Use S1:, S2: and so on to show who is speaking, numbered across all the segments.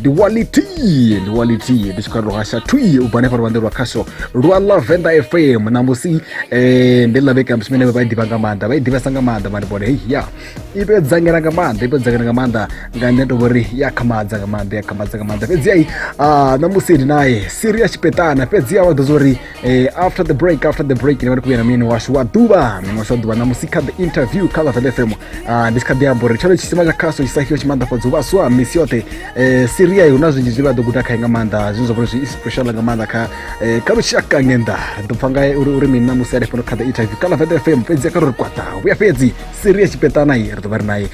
S1: ndi walitie ndi walitie ndi swika rohasha twie u bva hanefha luvande lwa khasho lwa la venda fm namusi eh, ndi laveka msimene vha i ḓivha nga maanḓa vha i ḓivhesa nga maanḓa mani vhone hei ya i to dzangela nga maanḓa i to dzangela nga maanḓa nga nṋe to vhori ya khamadza nga maanḓa ya khamadza nga maanḓa fhedzi ai ah, namusi ndi naye siri ya tshipeṱana fhedzi ya vha ḓo zwa uri Eh, after the break after the break ndivati kuya na munyeni washu wa duva munyeni washu wa duva na musi kha the interview kha lavele fm Ah, ndi si kha ḓi amba uri tshalo tshisima tsha khaso tshisahio tshimaanḓafhadza uvhaswa misi yoṱhe Eh, siria hu na zwinzhi zwi vha ḓo guda khae nga maanḓa zwine zwa vhori zwi inspirational nga maanḓa kha eh, kha lushaka ngenda ri ḓo pfa ngae uri uri mini na musi alefhano kha the interview kha lavele fm fhedzi kha ri ri kwaṱa vhuya fhedzi siria tshipeṱana i ri ḓo vha ri naye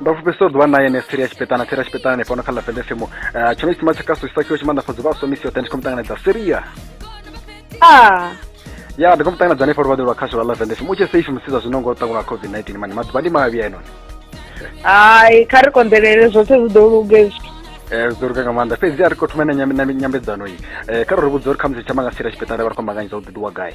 S1: ndo fhufhisa u ḓuvha naye ne siri ya tshipeṱana siri ya tshipeṱana ni fhano kha ḽa fedefemo eh, tsho no tsima tsha kaso isakiwa tshi maanḓafhadza uvha aswa misi yoṱhe ndi khou mu ṱanganedza siria ah. ya ndi khou mu ṱanganedza hanefha luvhaḓi lwa khasho lwa ḽa fedefemo u tshe safe musiza zwino ngo ṱangwa lwa covid 19 mani maḓuvha ndi mavhi a enoni hai
S2: kha ri konḓelele zwoṱhe zwi ḓo luge zwithu eh, zwi ḓo luga nga
S1: maanḓa fhedzi a ri khou thoma na nyambedzano iyi eh, kha ro ri vhudza uri khamusi tsha manga sira tshipeṱana vha ri khou mbanganyisa u ḓiḓiwa gai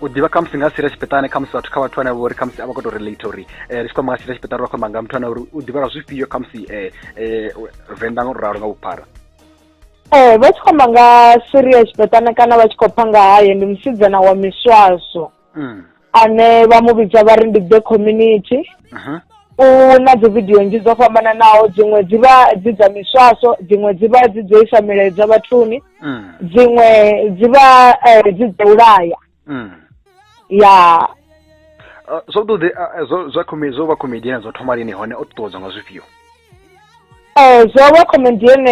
S2: u ḓivha khamusi nga sira tshipeṱane khamusi vhathu kha vhathu ane vha uri khamusi a vha khou tou relate uri um ri tshi khou amba nga sira tshipeṱane ri khou amba nga muthu ane uri u ḓivha nga zwifhio khamusi um venḓa nga u ralo nga vhuphara ee vha tshi khou amba nga siri ya tshipeṱane kana vha tshi khou pha nga haye ndi musidzana wa miswaso mm. ane vha mu vhidza vha ri ndi the community mhm. u na dzi vidio nnzhi dzo fhambananaho dziṅwe dzi vha dzi dza miswaso dziṅwe dzi vha dzi dzo isa milaedza vhathuni mm. dziṅwe dzi vha eh, dzi dza u laya mm. ya ah, zwavhuḓi
S1: ah, eh, zwa zwo vha comedian zwo thoma lini hone o ṱuṱuwedzwa nga zwifhio um
S2: zwo vha comedian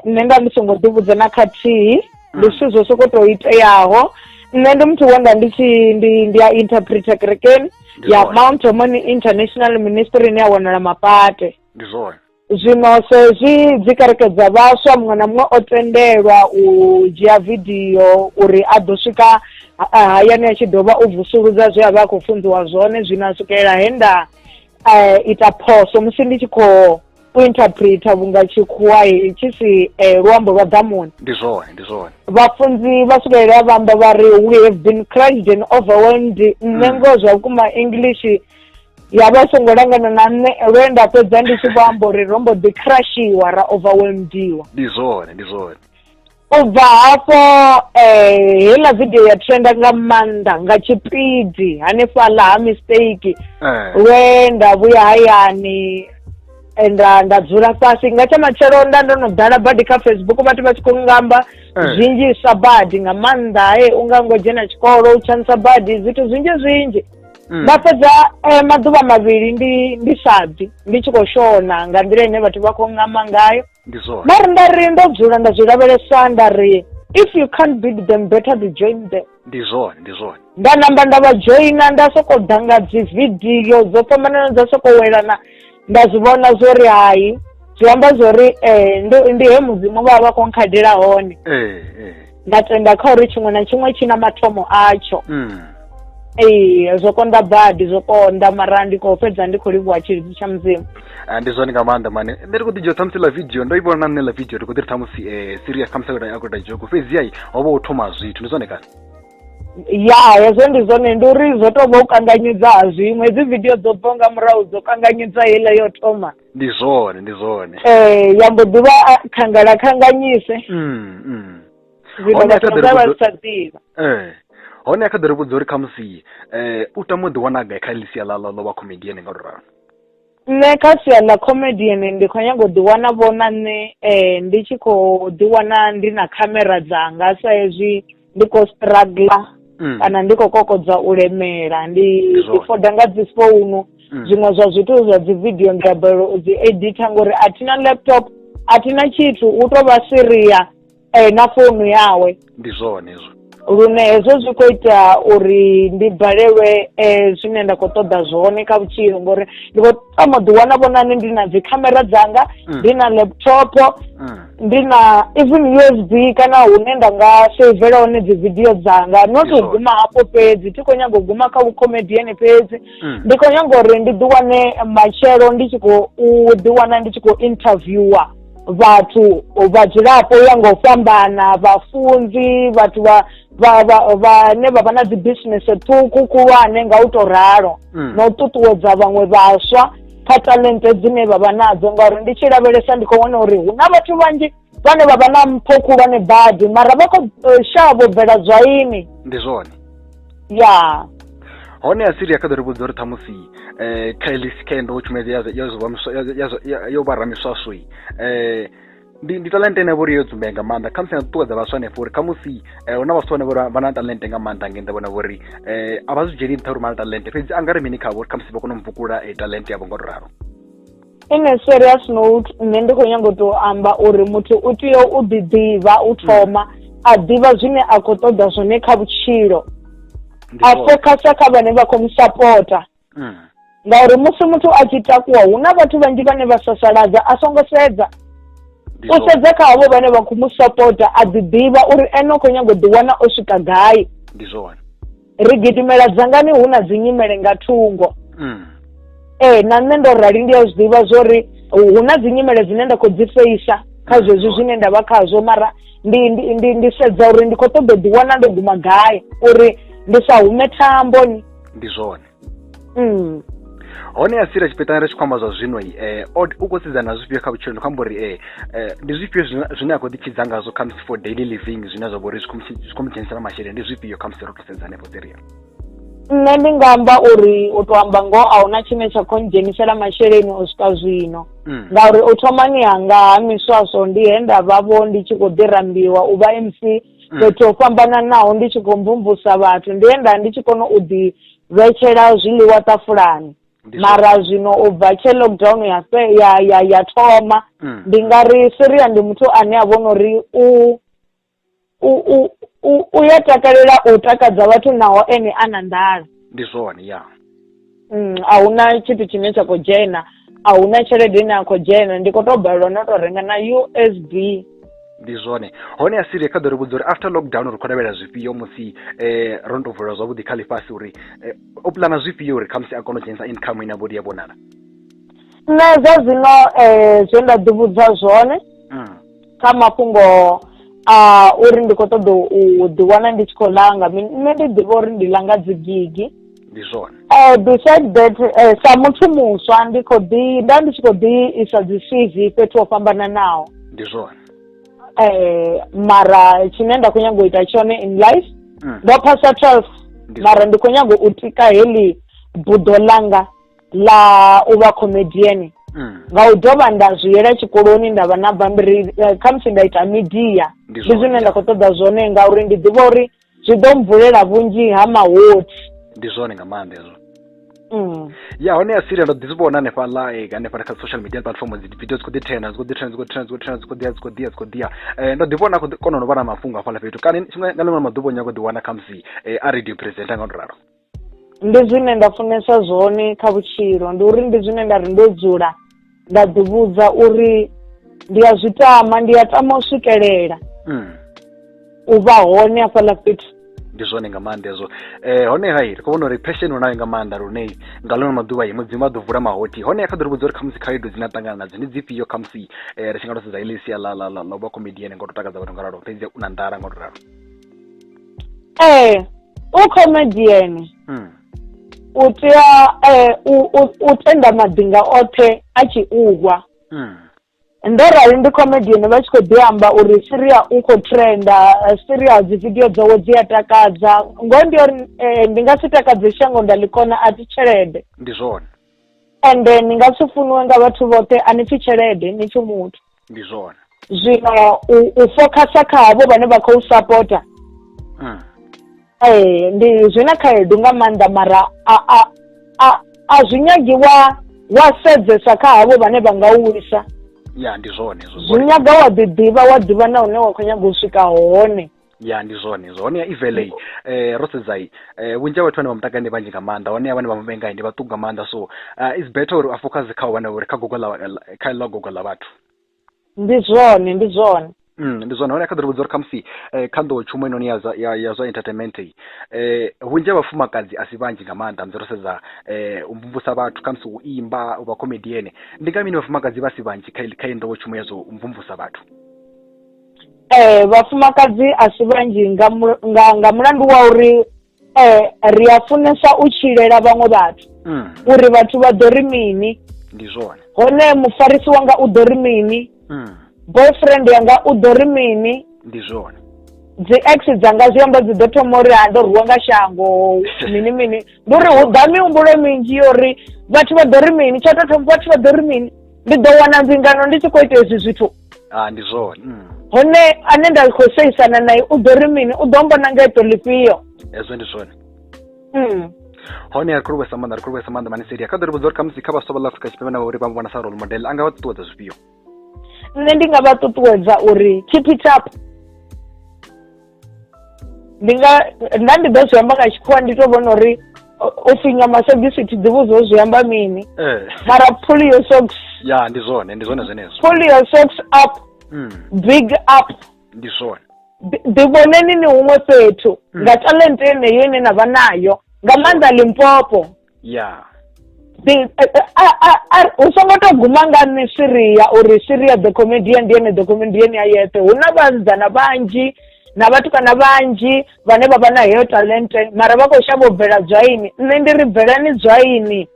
S2: nṋe nda ndi songo ḓivhudza na khathihi mm. ndi zwithu zwo soko tou iteaho nṋe ndi muthu wenda ndi tshi ndi ndi a interpreter kerekeni ya mount homoni international ministry ine ya wanala mapate ndi zwone Zwino sa hezwi dzi kereke dza vhaswa muṅwe na muṅwe o tendelwa u dzhia vidio uri a ḓo swika hayani a tshi dovha u vusuludza zwe a vha a khou funziwa zwone zwino a swikelela he nda um ita phoso musi ndi tshi khou u interpreter vhunga tshikhuwa tshi si um luambo lwa ḓamuni ndi zwone ndi zwone
S1: vhafunzi vha
S2: swikelela vha amba vha ri we have been crushed and overwhelmed nṋe mm. ngoho zwa vhukuma english ya vha songo langana na nṋe lwe nda fhedza ndi tshi vho amba uri ro mbo ḓi crushiwa ra overwhelmediwa ndi zwone ndi
S1: zwone u
S2: bva hafho um heiḽa vidio ya trenda nga maanḓa nga tshipidi hanefhaḽa ha mistake eh. lwe nda vhuya hayani eh, nda nda dzula fhasi nga tsha matshelo nda ndo no ḓala badi kha facebook vhathu vha tshi khou ngamba eh. zwinzhi sa badi nga maanḓa he u nga ngo dzhena tshikolo u tshanisa badi zwithu zwinzhi zwinzhi Mm. nda fhedza eh, maḓuvha mavhili ndi ndi sa bvi ndi tshi khou shona nga nḓila ine vhathu vha khou ngama ngayo ndi zwone nda ri nda ri ndo dzula nda zwi lavhelesa nda ri if you can't beat them better to join them ndi zwone ndi zwone
S1: nda namba nda
S2: vha joina nda sokou ḓa nga dzi vidio dzo fhambanana dza sokou welana nda zwi vhona zwo ri hai zwi amba zwo ri um ndo ndi he mudzimu vha vha vha khou nkhadela hone ee ee nda tenda kha uri tshiṅwe na tshiṅwe tshi na mathomo atsho mm. ee zwo konḓa badi zwo konḓa mara ndi khou fhedza ndi khou livhuwa tshilidzi tsha mudzimu Ah, ndi zwone nga maanḓa
S1: mane nṋe ndi khou ḓi dzhia ṱhamusi ḽa video ndo i vhona na nṋe ḽa video ndi khou ḓi ri ṱhamusi um serious khamusi akoda jogo fhedzi ai ho vha u thoma zwithu ndi zwone kana ya
S2: hezwo ndi zwone ndi uri zwo tou vha u kanganyedza ha zwiṅwe hedzi vidio dzo bvaho nga murahu dzo kanganyedza heiḽa yo thoma ndi zwone ndi
S1: zwone um ya mbo
S2: ḓivha khangala khanganyise Mm, mm. zwino Hone vhathu kha ḓi vha vha ri sa ḓivha ee
S1: hone a kha ḓi ri vhudza uri khamusi um u tama u ḓiwana gai kha ḽisia ḽa ḽa ḽo vha comedian nga luralo nṋe kha
S2: sia ḽa comedian ndi khou nyanga u ḓi wana vho na nṋe ndi tshi khou ḓi wana ndi na khamera dzanga sa ezwi ndi kho struggler kana ndi khou kokodza u lemela ndi ḓi foda nga dzi founu zwiṅwe zwa zwithu zwa dzi vidio ndi a balelwa u dzi editha ngori a thina laptop a thina tshithu hu tovha seriya. eh, na founu yawe ndi zwone
S1: hezwo lune hezwo zwi
S2: khou ita uri ndi balelwe eh, zwine nda khou ṱoḓa zwone kha vhutshilo ngori ndi khou tama ḓi wana vhonani ndi na dzikhamera dzanga Mm. ndi na laptop Mm. ndi na even usb kana hune nda nga saivela hone dzi video dzanga not Ndi u zwone. guma hafho fhedzi thi khou nyaga u guma kha vhucomedian fhedzi Mm. ndi khou nyaga uri ndi ḓi wane matshelo ndi tshi khou u ḓi wana ndi tshi khou interviewer vhathu vhadzulapo ya nga u fhambana vhafunzi vhathu vha vhane vha vha na dzi bisinese ṱhukhu khulwane nga u to ralo mm. na u ṱuṱuwedza vhaṅwe vhaswa kha talente dzine vha vha nadzo ngauri ndi tshi lavhelesa ndi khou vhona uri hu na vhathu vhanzhi vhane vha vha na mpho khulwane badi mara vha khou eh, shavho bvela zwaini ndi zwone
S1: ya
S2: hone
S1: asiria kha ḓo ri vhudza uri ṱhamusi um kha heḽi sikendo wo tshumedzi yo vha ramiswaswi um eh, ndi ndi talente ine vhori yo dzumbea nga maanḓa khamusi na ṱuṱuwedza vhaswa hanefho uri khamusi um hu na vhaswa vhane vhori vha na talente nga maanḓa nge nda vhona vhori um a vha zwi dzheni nṱha uri vha na talente fhedzi a nga ri mini khavho uri khamusi vha kone u mvukula talente yavho nga u ralo Ene
S2: sure ri a sino nṋe ndi khou nyanga u tou amba uri muthu u tea u ḓiḓivha u thoma a ḓivha zwine a khou ṱoḓa zwone kha vhutshilo a fokhasa kha vhane vha khou mu sapota mm. ngauri musi muthu a tshi takuwa hu na vhathu vhanzhi vhane vha sasaladza a songo sedza u sedza kha havho vhane vha khou mu sapota a ḓiḓivha uri ene u khou nyanga u ḓiwana o swika gai ndi zwone
S1: ri gidimela
S2: dzangani hu na dzinyimele nga thungo mm. ee na nṋe ndo rali ndi a zwi ḓivha zwo ri hu na dzinyimele dzine nda khou dzi feisa kha mm. zwezwi zwine nda vha khazwo mara ndi ndi ndi ndi sedza uri ndi khou ṱoḓa ḓiwana ndo guma gai uri ndi sa hume thamboni ndi zwone
S1: mm. hone a sira tshipeṱana ri tshi khou amba zwa zwino eh, u khou sedzana na zwifhio kha vhutshilo ndi khou amba uri eh, eh, ndi zwifhio zwine a khou ḓitshidza ngazwo khamusi for daily living zwine zwa vha uri zwi khou mu dzhenisela masheleni ndi zwifhio khamusi ro to sedza hanefho siria nṋe
S2: ndi nga amba uri u to amba ngoho a huna tshine tsha khou ndzhenisela masheleni u swika zwino mm. ngauri u thomani hanga ha miswaswo ndi he nda vhavho ndi tshi khou ḓi rambiwa u vha mc mm. fhethu ho fhambananaho ndi tshi khou mvumvusa vhathu ndi he nda ndi tshi kona u ḓi vhetshela zwiḽiwa ṱafulani mara zwino u bva tshe lockdown ya ya ya ya thoma mm. ndi nga ri Syria ndi muthu ane a vhona uri u u u u ya takalela u takadza vhathu naho ene a na nḓala ndi zwone ya
S1: mm, a
S2: huna tshithu tshine tsha khou dzhena a hu na tshelede ine a khou dzhena ndi khou tou balelwa no tou renga na u s b ndi
S1: zwone hone a siria kha ḓo ri vhudza uri after lockdown ri khou lavhelela zwifhio musi um ro no tou vulela zwavhuḓi kha ḽifhasi uri eh, o pulana zwifhio uri khamusi a kone u dzhenisa income ine vhodi ya vhonala nṋe
S2: zwa zwino um zwe nda ḓivhudza zwone mm. kha mafhungo a uri ndi khou ṱoḓa u ḓiwana ndi tshi khou langa nṋe ndi ḓivha uri ndi langa dzigigi
S1: ndi zwone eh besides
S2: that eh, sa muthu muswa ndi khou ḓi nda ndi tshi khou ḓi isa dzi cv fhethu ho fhambananaho ndi
S1: zwone eh mara
S2: tshine nda khou nyanga u ita tshone in life mm. ndo phasa 12 mara ndi khou nyanga u tika heḽi buḓo ḽanga ḽa u vha comedian mm. nga u dovha nda zwi yela tshikoloni nda vha na bammbiri eh, khamusi nda ita media ndi zwine nda khou ṱoḓa zwone ngauri ndi ḓivha uri zwi ḓo mvulela vhunzhi ha mahothi ndi zwone nga
S1: maanḓa hezwo Mm. ya hone ya siria ndo ḓi zwi vhona hanefhaḽa eh, hanefhaḽa kha social media platform dzi video dzi khou ḓi trenda dzi khou ḓi trenda dzi khou trenda dzi khou trenda dzi khou ḓiya dzi khou ḓiya dzi khou ḓiya Eh, ndo ḓi vhona khou ḓi- kona no vha na mafhungo hafhaḽa fhethu kana tshiṅwe nga ḽiṅwe ḽa maḓuvha u nyago ḓi wana khamusi eh, a radio presenter nga u to ralo ndi
S2: zwine nda funesa zwone kha vhutshilo ndi uri ndi zwine nda ri ndo dzula nda ḓi vhudza uri ndi a zwi tama ndi a tama u swikelela mm. u vha hone hafhaḽa fhethu ndi zwone nga maanḓa
S1: ezwo eh hone hai ri khou vhona uri passion u nayo nga maanḓa lune nga ḽono maḓuvha yi mudzimu vha ḓo vula mahothi hone ya kha ḓo ri vhudza uri khamusi khaedu dzine a ṱangana nadzo ndi dzifhio khamusi eh ri tshi nga to sedza ile sia ḽa ḽa ḽa ḽa vha comedian ngo to takadza vhathu nga ralo fhedzi u na nḓala ngo to ralo ee
S2: eh, u comedian hmm. u tea eh, u tenda maḓinga oṱhe a tshi uhwa hmm. ndo rali ndi comedian vha tshi khou ḓi amba uri siria u khou trenda eh, siria dzi video dzawe dzi a takadza ngoho ndi uri ndi nga si takadze shango nda ḽi kona a ti tshelede ndi zwone
S1: ende ni
S2: nga si funiwe nga vhathu vhoṱhe a ni pfi tshelede ni pfi muthu ndi zwone
S1: zwino u,
S2: u focusa kha havho vhane vha khou sapota mm. ee ndi zwi na khaedu nga maanḓa mara a a a a zwi nyagi wa wa sedzesa kha havho vhane vha nga u wisa ya ndi zwone
S1: zwi nyaga wa
S2: ḓiḓivha wa ḓivha na hune wa khou nyaga u swika hone ya ndi zwone
S1: hezwo honeha ivelei eh, ro sedzai eh, vhunzhi ha vhathu vhane vha mutakale ndi vhanzhi nga maanḓa honeha vhane vha muvengai ndi vhaṱuku nga maanḓa so uh, it's better uri a focus kha u vhana uri kha gogo la kha ḽa gogo ḽa vhathu ndi
S2: zwone ndi zwone
S1: Mm, ndi zwone hone kha ḓo ri vhudza uri khamusi eh, kha nḓowo tshumo inoni ya, zwa- ya, ya zwa entertainment iyi eh, vhunzhi ha vhafumakadzi a si vhanzhi nga maanḓa musi ro sedza eh, u mvumvusa vhathu khamusi u imba u vha comediene ndi nga mini vhafumakadzi vha si vhanzhi kha, i- kha iyi nḓowo tshumo ya zwa u mvumvusa vhathu
S2: vhafumakadzi a si vhanzhi nga mu nga nga mulandu wa uri ri a funesa u tshilela vhaṅwe vhathu mm. uri vhathu vha ḓo ri mini ndi zwone
S1: hone mufarisi
S2: wanga u ḓo ri mini mm. boyfriend yanga u ḓo ri mini ndi zwone
S1: dzi ex
S2: dzanga zwi amba dzi ḓo thoma uri ha ndo rwiwa nga shango mini mini ndi uri hu ḓa mihumbulo minzhi yo uri vhathu vha ḓo ri mini tsha tou thoma vhathu vha ḓo ri mini ndi ḓo wana mbingano ndi tshi khou ita hezwi zwithu ha ndi zwone
S1: mm. hone
S2: ane nda khou seisana naye u ḓo ri mini u ḓo mbona nga eto lifhio hezwo ndi zwone
S1: mm. hone ri khou livhuesa maanḓa ri khou livhuesa maanḓa maniseli a kha ḓo ri vhudza uri khamusi kha vhaswa vha ḽa afrika tshipembe na uri vha vhona sa role model a nga vha ṱuṱuwedza zwifhio nṋe ndi
S2: nga vha ṱuṱuwedza uri keep it up ndi nga nda ndi ḓo zwi amba nga tshikhuwa ndi to vhona uri u finya masogisi thi ḓivhi zwo zwi amba mini eh. mara pull your socks ya ndi zwone ndi
S1: zwone zwenezwo pull your socks
S2: up mm. big up ndi zwone
S1: ḓivhoneni
S2: ni huṅwe fhethu mm. nga talente yeneyo ine na vha nayo nga maanḓa limpopo ya hu songo to guma nga nṋe swiriya uri swiriya the comedian ndi ene the comedian a yeṱhe hu na vhasidzana vhanzhi na vhathu kana vhanzhi vhane vha vha na heyo talente mara vha khou shavha u bvela dzwaini nṋe ndi ri bvelani dzwaini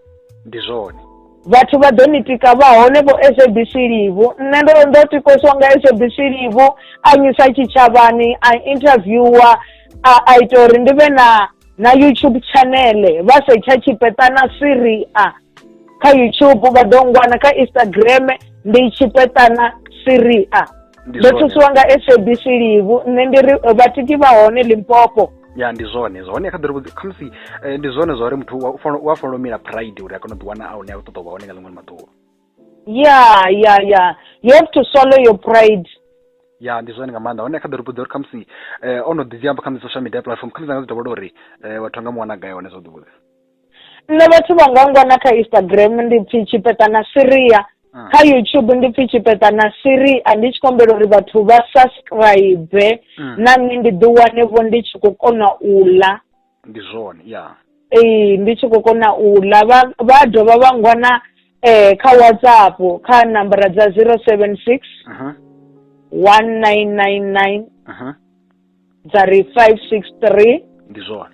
S2: ndi zwone
S1: vhathu vha ḓo
S2: ni tika vha hone vho sabc livu nṋe ndo ndo tikosiwa nga sabc livu a nyisa tshitshavhani a interviewer a ita uri ndi vhe na na youtube chanele vha setsha tshipeṱana siria kha youtube vha ḓo ngwana kha instagram ndi tshipeṱana siria ndo thusiwa nga sabc livu nṋe ndi ri vhatiki vha hone limpopo ya ndi zwone
S1: zwone kha ḓiri vhudzi khamusi eh, ndi zwone zwa uri muthu u a fanela u mila pride uri a kone u ḓiwana a hune a ṱoḓa u vha hone nga ḽiṅwe ḽi maḓuvha ya ya ya you have to swallow your pride ya ndi zwone nga maanḓa hone kha ḓo ri vhudza uri khamusi eh, o no ḓi zwi amba khamusi social media platform khamusi anga zwi dovhola uri eh, vhathu anga muwana gai hone zwo ḓi vhudza nṋe vhathu
S2: vha nga ngwana kha instagram ndi pfi tshipeṱa na siria Ah. kha youtube ndi pfi tshipeṱa na siria ndi tshi kombela uri vhathu vha subscribe Mm. na nṋe ndi ḓi wane vho ndi tshi khou kona u ḽa ndi
S1: zwone ya ee ndi tshi
S2: khou kona u ḽa vha vha dovha vha ngwana eh kha whatsapp kha nambara dza zero seven six one nine nine nine dza ri five six three ndi zwone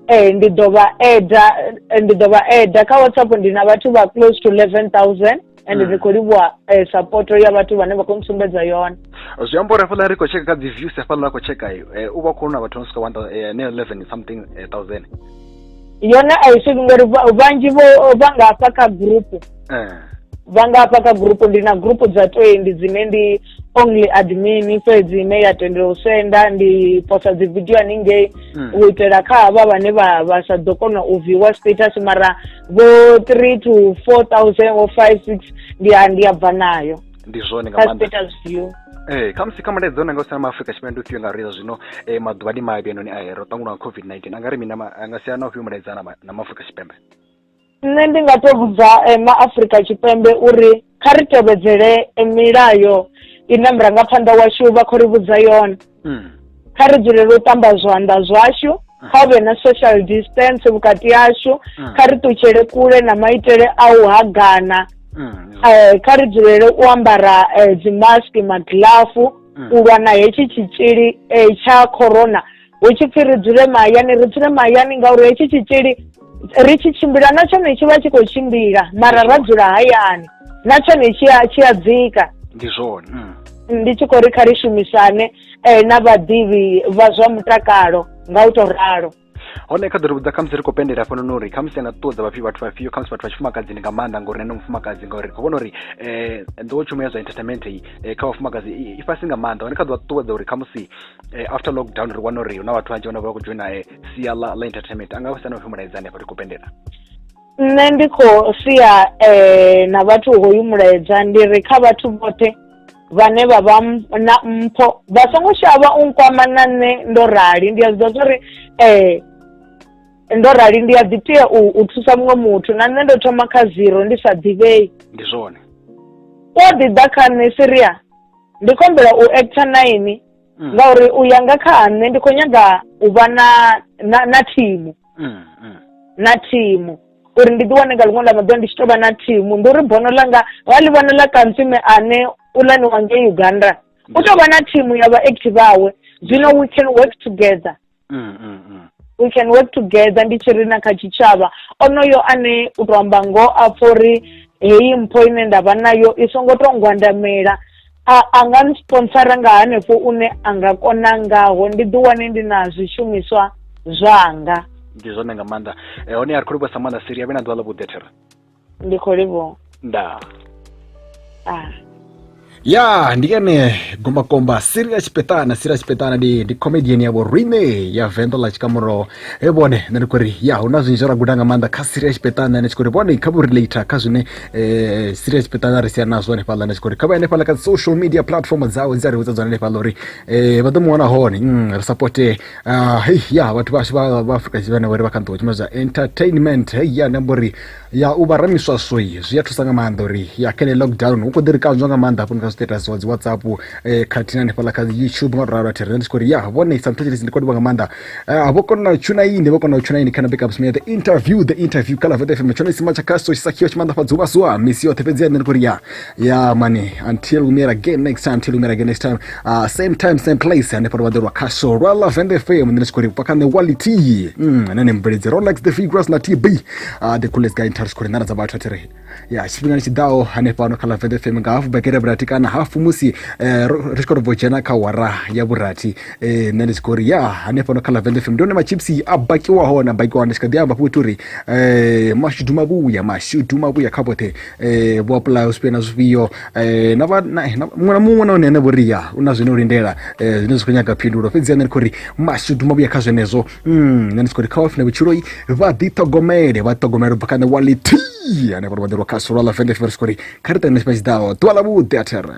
S1: eh ndi
S2: ḓo vha eda eh, ndi ḓo vha eda kha whatsapp ndi na vhathu vha close to eleven thousand and Mm. ri khou livhuwa eh, support ya vhathu vhane vha khou ntsumbedza yone zwi amba uri hafhaḽa
S1: ri khou tsheka kha dzi views hafhaḽa a khou tsheka iyo eh, u vha khou na vhathu no swika one thou- eh, ne 11 something eh, thousand yone
S2: a i swiki ngori va- vhanzhi vho vha nga hafha kha group Eh. vha nga hafha kha group ndi na group dza twenty dzine ndi only admin fhedzi ine ya tendela u senda ndi posa dzi video haningei mm. u itela kha havha vhane vha vha sa ḓo kona u viewer status mara vho 3 to 4000 or 5 6 ndi a ndi a bva nayo ndi zwone nga maanḓa
S1: status view
S2: ee kha musi kha mulaedza
S1: ona nga u sala ma afrika tshipembe ufhio nga reza zwino um maḓuvha ndi mavhi anoni a hero ṱangulwa nga covid-19 a nga ri mini anga siana ufhio mulaedzana na maafrika tshipembe Nṋe ndi
S2: nga to vhudza ma Afurika Tshipembe uri kha ri tevhedzele milayo ine murangaphanḓa washu vha khou ri vhudza yone hmm. kha ri dzulele u ṱamba zwanḓa zwashu hmm. kha hu vhe na social distance vhukati hashu hmm. kha ri ṱutshele kule na maitele a u hagana eh, kha ri dzulele u ambara eh, dzimaski magilafu u lwa na hetshi tshitzhili eh, tsha corona hu tshi pfhi ri dzule mahayani ri dzule mahayani ngauri hetshi tshitzhili ri tshi tshimbila na tshone tshi vha tshi khou tshimbila mara ra dzula hayani na tshone tshi a tshi a dzika ndi
S1: zwone mm. ndi tshi khou
S2: ri kha ri shumisane um na vhaḓivhi vha zwa mutakalo nga u tou ralo hone kha ḓo ri vhudza
S1: khamusi ri khou pendela hafhanoni uri khamusi anga ṱuṱuwedza vhafhi vhathu vhafhio khamusi vhathu vha tshifumakadzini nga maanḓa ngori nene mufumakadzi ngauri ri khou vhona uri um nḓowetshumo ya zwa entertainment eh, kha vhafumakadzi i fhasi nga maanḓa hone kha ḓo vha ṱuṱuwedza uri khamusi eh, after lockdown ri wana uri hu na vhathu vhanzhi vhane vha khou dzhoina eh, sia ḽa ḽa entertainment a nga vha sani upfhi mulaedza hanefha ri khou pendela nṋe
S2: ndi khou sia eh, na vhathu hoyu mulaedza ndi ri kha vhathu vhoṱhe vhane vha vha na mpho vha songo shavha u nkwama na nṋe ndo rali ndi a zwi ḓa zwa uri eh, ndo rali ndi a ḓi tea u, u thusa muṅwe muthu na nṋe ndo thoma kha zero ndi sa ḓivhei ndi zwone
S1: u a
S2: ḓi ḓa kha nṋe siria ndi khou humbela u actor na inwi mm. ngauri u ya nga kha ha nṋe ndi khou nyaga u vha na na na thimu mm, mm. na thimu uri ndi ḓiwane nga ḽiṅwe ḽa maḓuvha ndi tshi tou vha na thimu ndi uri bono ḽanga wa ḽi vhona ḽa kantsime ane u lani wa ngei uganda u tou vha na thimu ya vhaacti vhawe zwino we can work together mm, mm, mm. we can work together ndi tshi ri na kha tshitshavha onoyo ane u to amba ngo a pfa uri heyi mpho ine nda vha nayo i songo to ngwandamela a nga nsponsora nga hanefho une a nga kona ngaho ndi ḓiwane ndi na zwishumiswa zwanga ndi zwone nga
S1: maanḓa eh, hone ya ri khou livhuwa sa maanḓa siri ya vhe na ḓuvha ḽa vhuḓethera ndi khou livhuwa ndaa ah. ya ndi ene gombakomba siri ya tshipeṱana siri ya tshipeṱana ndi ndi comedian yavho rine ya venḓa ḽa tshikamuro e vhone nṋe ndi khou ri ya hu na zwinzhi ra guda nga maanḓa kha siri ya tshipeṱana ene tshi khou ri vhone kha vho relator kha zwine um siri ya tshipeṱana ri sia nazwo hanefhaḽa ene tshi khou ri kha vha hanefhaḽa kha social media platform dzawe dzi a ri vhudza dzone hanefhaḽa uri um vha ḓo mu wana hone mm, ri sapotee Uh, hey, ya vhathu vhashu vha vha Afrika Tshipembe vhari vha kha nḓiwa tshumelo dza entertainment hey, ya namba uri ya u vha ramiswaswoi zwi a thusa nga maanḓa uri ya kha lockdown hu khou ḓi ri kanzwa nga maanḓa hafhoni kha status wa dzi whatsapp eh, khathihi na hanefhaḽa kha youtube nga ralo thiri ndi tshi khou ri ya vhone sometimes ndi khou livha nga maanḓa uh, vho kona u tshuna ini vho kona u tshuna ini kana big up smear the interview the interview kala vete fm tshone sima tsha khaso tshisakhiwa tshimanḓafhadza uvhasuwa misi yoṱhe fhedzi ya nṋe ndi khou ri ya ya mani until we meet again next time until we meet again next time uh, same time same place ane pano vaḓorwa khasho rwa love and fm ndine tshikori vhupa kha nṋe wality mm, ane ne mubveledzi rolex the figures na tb uh, the coolest guy in town tshikori nḓana dza vhathu athi ri ya tshifhingani tshi ḓaho hanefhano kha love and fm nga hafu bekere vhurathi kana hafu musi eh, ro- ri tshi khou ri bvo dzhena kha wara ya vhurathi eh, nṋe ndi tshi khou ri ya hanefhano kha love and fm ndi hone machipsi a bakiwaho na bakiwaho ndi tshi kha ḓi amba fhoti uri eh, mashudu mavhuya mashudu mavhuya kha vhoṱhe eh vho apply u sipena zwifhio eh na vha na eh, na- muṅwe na muṅwe na hone ane vho ri ya u na zwine u lindela eh zwine zwi khou nyaga phindulo fhedzi ane ri khou ri mashudu mavhuya kha zwenezwo mm nṋe ndi si khou ri kha wafina vhutshiloi vha ḓiṱhogomele vha ṱhogomele ubva kha ṋe wality ane vha ri vha ḓirwa kha solo ḽa vende fhiri si khou ri kha ri tangane tshifha tshiḓaho ḓuvha ḽa vhuḓi a thera